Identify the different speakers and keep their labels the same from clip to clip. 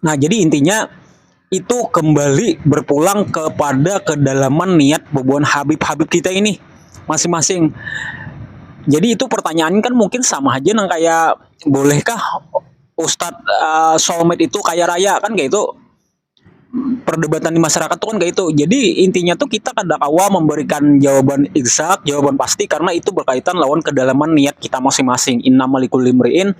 Speaker 1: Nah, jadi intinya itu kembali berpulang kepada kedalaman niat bubuhan Habib-Habib kita ini masing-masing. Jadi itu pertanyaan kan mungkin sama aja nang kayak bolehkah Ustadz uh, soulmate itu kaya raya kan kayak itu perdebatan di masyarakat tuh kan kayak itu. Jadi intinya tuh kita kada kawa memberikan jawaban exact, jawaban pasti karena itu berkaitan lawan kedalaman niat kita masing-masing. Inna malikul limriin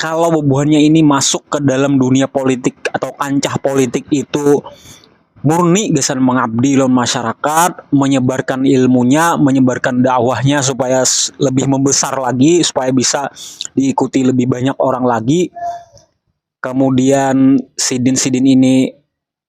Speaker 1: kalau bubuhannya ini masuk ke dalam dunia politik atau kancah politik itu murni gasan mengabdi lawan masyarakat, menyebarkan ilmunya, menyebarkan dakwahnya supaya lebih membesar lagi, supaya bisa diikuti lebih banyak orang lagi. Kemudian sidin-sidin ini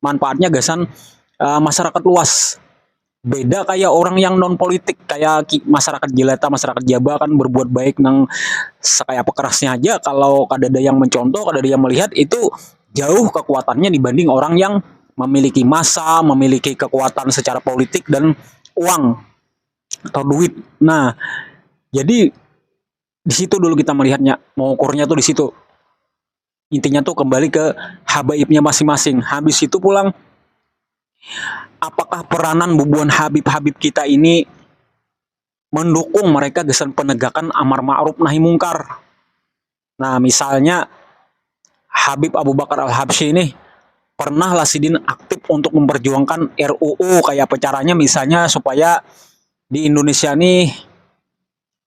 Speaker 1: manfaatnya gasan uh, masyarakat luas beda kayak orang yang non politik kayak masyarakat jelata masyarakat jaba kan berbuat baik nang sekaya apa kerasnya aja kalau kadada yang mencontoh kadada yang melihat itu jauh kekuatannya dibanding orang yang memiliki masa memiliki kekuatan secara politik dan uang atau duit nah jadi di situ dulu kita melihatnya mengukurnya tuh di situ intinya tuh kembali ke habaibnya masing-masing habis itu pulang apakah peranan bubuhan habib-habib kita ini mendukung mereka gesan penegakan amar ma'ruf nahi mungkar nah misalnya Habib Abu Bakar Al-Habsyi ini pernah lah sidin aktif untuk memperjuangkan RUU kayak apa caranya misalnya supaya di Indonesia nih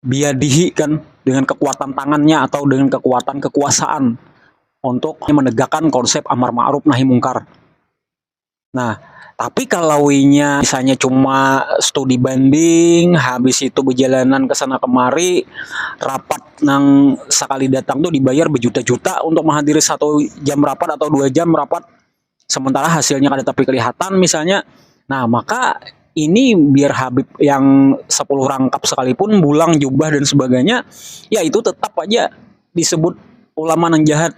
Speaker 1: biadihi kan dengan kekuatan tangannya atau dengan kekuatan kekuasaan untuk menegakkan konsep amar ma'ruf nahi mungkar. Nah, tapi kalau inya misalnya cuma studi banding, habis itu berjalanan ke sana kemari, rapat nang sekali datang tuh dibayar berjuta-juta untuk menghadiri satu jam rapat atau dua jam rapat, sementara hasilnya kada tapi kelihatan misalnya nah maka ini biar Habib yang sepuluh rangkap sekalipun bulang jubah dan sebagainya ya itu tetap aja disebut ulama yang jahat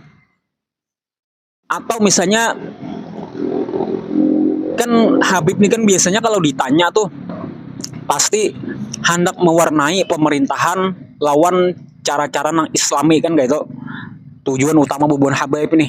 Speaker 1: atau misalnya kan Habib ini kan biasanya kalau ditanya tuh pasti hendak mewarnai pemerintahan lawan cara-cara nang islami kan kayak itu tujuan utama bubuhan Habib ini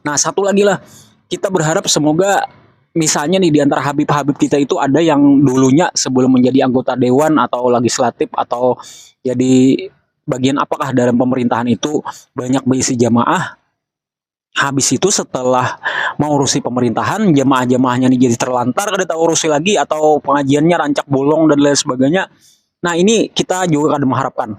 Speaker 1: Nah, satu lagi lah, kita berharap semoga misalnya nih di antara Habib-Habib kita itu ada yang dulunya sebelum menjadi anggota dewan atau legislatif atau jadi bagian apakah dalam pemerintahan itu banyak berisi jamaah. Habis itu setelah mau urusi pemerintahan, jamaah-jamaahnya nih jadi terlantar, kada tahu urusi lagi atau pengajiannya rancak bolong dan lain sebagainya. Nah, ini kita juga kada mengharapkan.